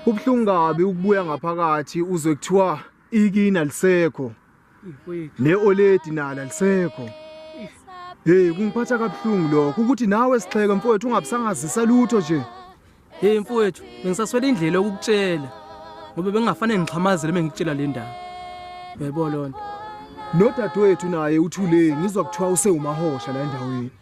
Kubuhlungu kabi ukubuya ngaphakathi uzwe kuthiwa ikina lisekho. Ne oledi nala lisekho. Hey kungiphatha kabuhlungu lokho ukuthi nawe sixheke mfowethu ungabusangazisa lutho nje. Hey mfowethu bengisaswela indlela yokukutshela ngoba bengafanele ngixhamazele bengikutshela le ndaba. Yebo lonto. Nodadewethu naye uthule ngizwa kuthiwa usewumahosha la endaweni.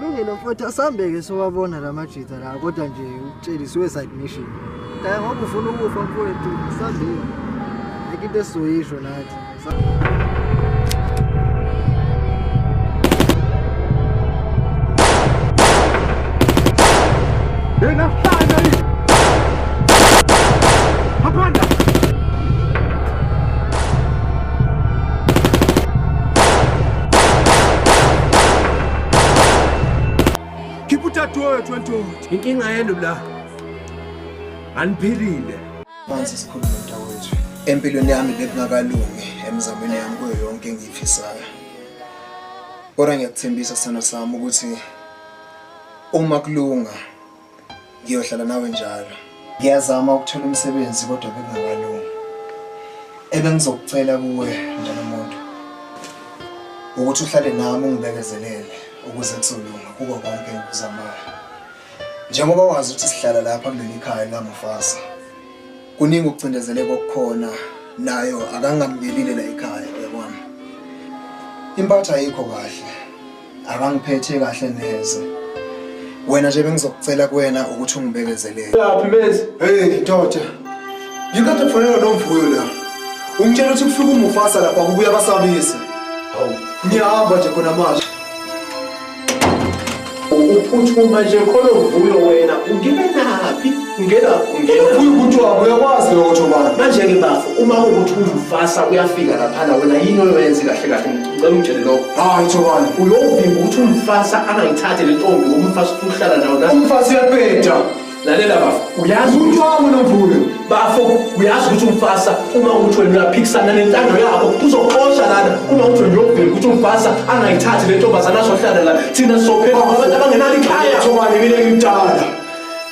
Lungile mfowethu asambeke siwabona la majita la kodwa nje ukutshela suicide mission. Kaya ngoba ufuna ukufa mfowethu asambeke. Ayikho into esizoyisho nathi. Yena hlala yini? Hapana. Khipha utatu wethu wendoda. Inkinga yenu la. Aniphilile. Manje sikhuluma mntakwethu. Empilweni yami bekungakalungi emizamweni yami kuyo yonke engiyifisayo. Kodwa ngiyakuthembisa sana sami ukuthi uma kulunga Ngiyohlala nawe njalo. Ngiyazama ukuthola umsebenzi kodwa bengakalungi. Ebengizokucela kuwe njalo umuntu ukuthi uhlale nami ungibekezelele ukuze kuzolunga kuko konke engikuzamayo. Njengoba wazi ukuthi sihlala lapha kuleli khaya likaMufasa. Kuningi ukucindezeleka okukhona nayo akangamkelile la ekhaya yabona. Impatha ayikho kahle. abangiphethe kahle neze wena nje bengizokucela kuwena ukuthi ungibekezelele laphi mezi hey ndoda ngikade kufanele nomvuyo la ungitshela ukuthi kufika umufasa lapha kubuya basabisa hawu ngiyahamba nje khona manje uphuthuma nje khona uvuyo wena ungime naphi ungena ungena uvuyo ukuthi wabo uyakwazi lokho manje manje ke bafo uma ukuthi umufasa uyafika lapha wena yini oyenze kahle kahle Ngicela ungitshele lokho. Hayi Thobani, uyovimba ukuthi umfasa angayithathe le ntombi ngoba umfasa ufuna ukuhlala nawo la. Umfasa uyabheda. Lalela bafo, uyazi ukuthi wami nomvuyo. Bafo, uyazi ukuthi umfasa uma uthi wena uyaphikisana nentando yabo uzoxosha lana uma uthi wena uyovimba ukuthi umfasa angayithathe le ntombazana azohlala la. Thina sizophepha ngoba abantu abangenalo ikhaya. Thobani mina ngimdala.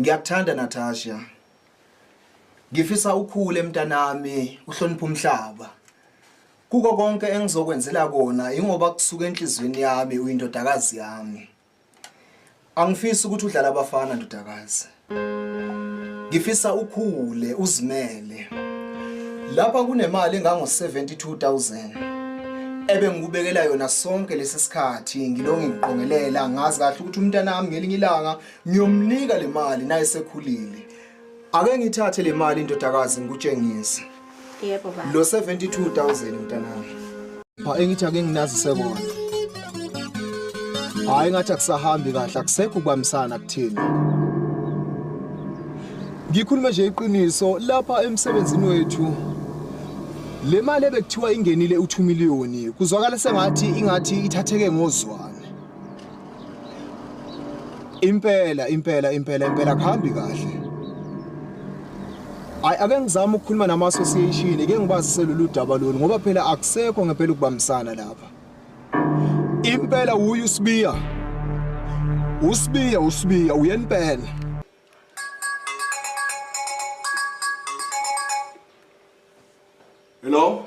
Ngiyakuthanda Natasha. Ngifisa ukhule mntanami, uhloniphe umhlaba. Kuko konke engizokwenzela kona ingoba kusuka enhlizweni yami uyindodakazi yami. Angifisi ukuthi udlala abafana ndodakazi. Ngifisa ukhule uzimele. Lapha kunemali engango 72000 ebe ngikubekela yona sonke lesi sikhathi ngilongi ngiqongelela ngazi kahle ukuthi umntanami ngelinye ilanga ngiyomnika le mali naye sekhulile ake ngithathe le mali indodakazi ngikutshengise yebo baba lo 72000 mntanami pha engithi ake nginazise kona hayi ngathi akusahambi kahle akusekho ukubambisana kuthina ngikhuluma nje iqiniso lapha emsebenzini wethu le mali ebekuthiwa ingenile u2 million kuzwakala sengathi ingathi ithatheke ngozwana Impela impela impela impela kuhambi kahle. Ay ake ngizama ukukhuluma nama association ke ngibazise lolu daba lolu ngoba phela akusekho ngempela ukubambisana lapha. Impela uyu Sibiya. Usibiya usibiya uyenpela. Hello?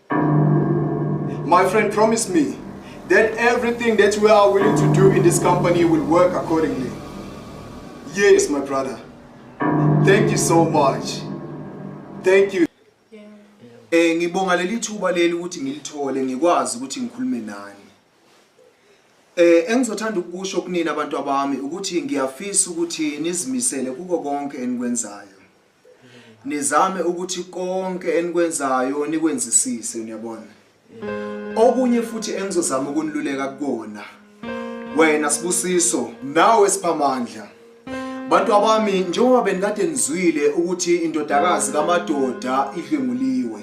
My friend promise me that everything that we are willing to do in this company will work accordingly. Yes, my brother. Thank you so much. Thank you. Eh ngibonga leli thuba leli ukuthi ngilithole ngikwazi ukuthi ngikhulume nani. Eh engizothanda ukusho kunina abantu abami ukuthi ngiyafisa ukuthi nizimisele kuko konke enikwenzayo. nizame ukuthi konke enikwenzayo nikwenzisise niyabona okunye futhi engizozama ukuniluleka kukona wena sibusiso nawe siphamandla bantu abami njengoba benikade nizwile ukuthi indodakazi kamadoda idlwenguliwe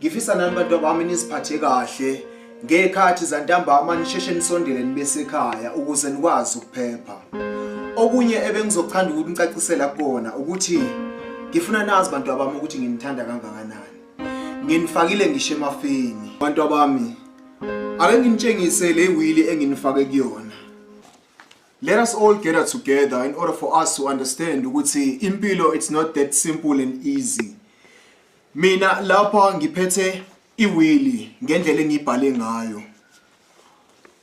Ngifisa nani bantu bami niziphathe kahle ngekhathi zantambama nisheshe nisondele nibe sekhaya ukuze nikwazi ukuphepha. Okunye ebengizothanda ukuthi nicacisela kona ukuthi ngifuna nazi bantu abami ukuthi nginithanda kangakanani. Nginifakile ngisho emafini. Bantu abami ake nginitshengise le wili enginifake kuyona. Let us all gather together in order for us to understand ukuthi impilo it's not that simple and easy. Mina lapha ngiphethe iwili ngendlela engibhale ngayo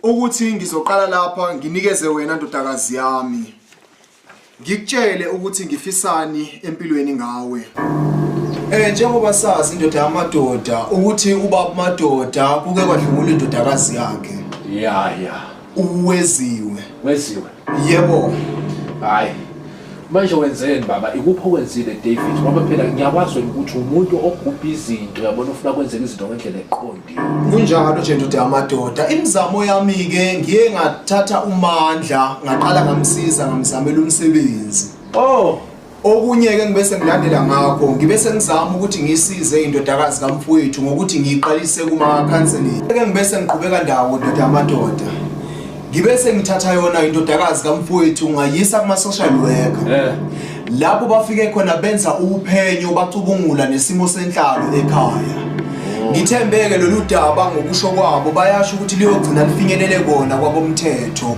ukuthi ngizoqala lapha nginikeze wena ndodakazi yami ngikutshele ukuthi ngifisani empilweni ngawe Eh njengoba sazi indoda yamadoda ukuthi ubaba madoda kuke kwadlungula indodakazi yakhe. Yeah yeah. uweziwe weziwe yebo hayi manje wenzeni baba ikuphi okwenzile david ngoba phela ngiyakwazi wena ukuthi umuntu ogubha izinto yabona ufuna kwenzeka izinto ngendlela eqondile kunjalo nje ndoda yamadoda imizamo yami-ke ngiye ngathatha umandla ngaqala ngamsiza ngamzamela umsebenzi oh Okunye-ke ngibe sengilandela ngakho ngibe sengizama ukuthi ngisize indodakazi kamfowethu ngokuthi ngiyiqalise kuma-counseling ke ngibe sengiqhubeka ndawo ndoda amadoda ngibe sengithatha yona indodakazi kamfowethu ngayisa kuma-social worker yeah. lapho bafike khona benza uphenyo bacubungula nesimo senhlalo ekhaya oh. ngithembeke lolu daba ngokusho kwabo bayasho ukuthi liyogcina lifinyelele kona kwabomthetho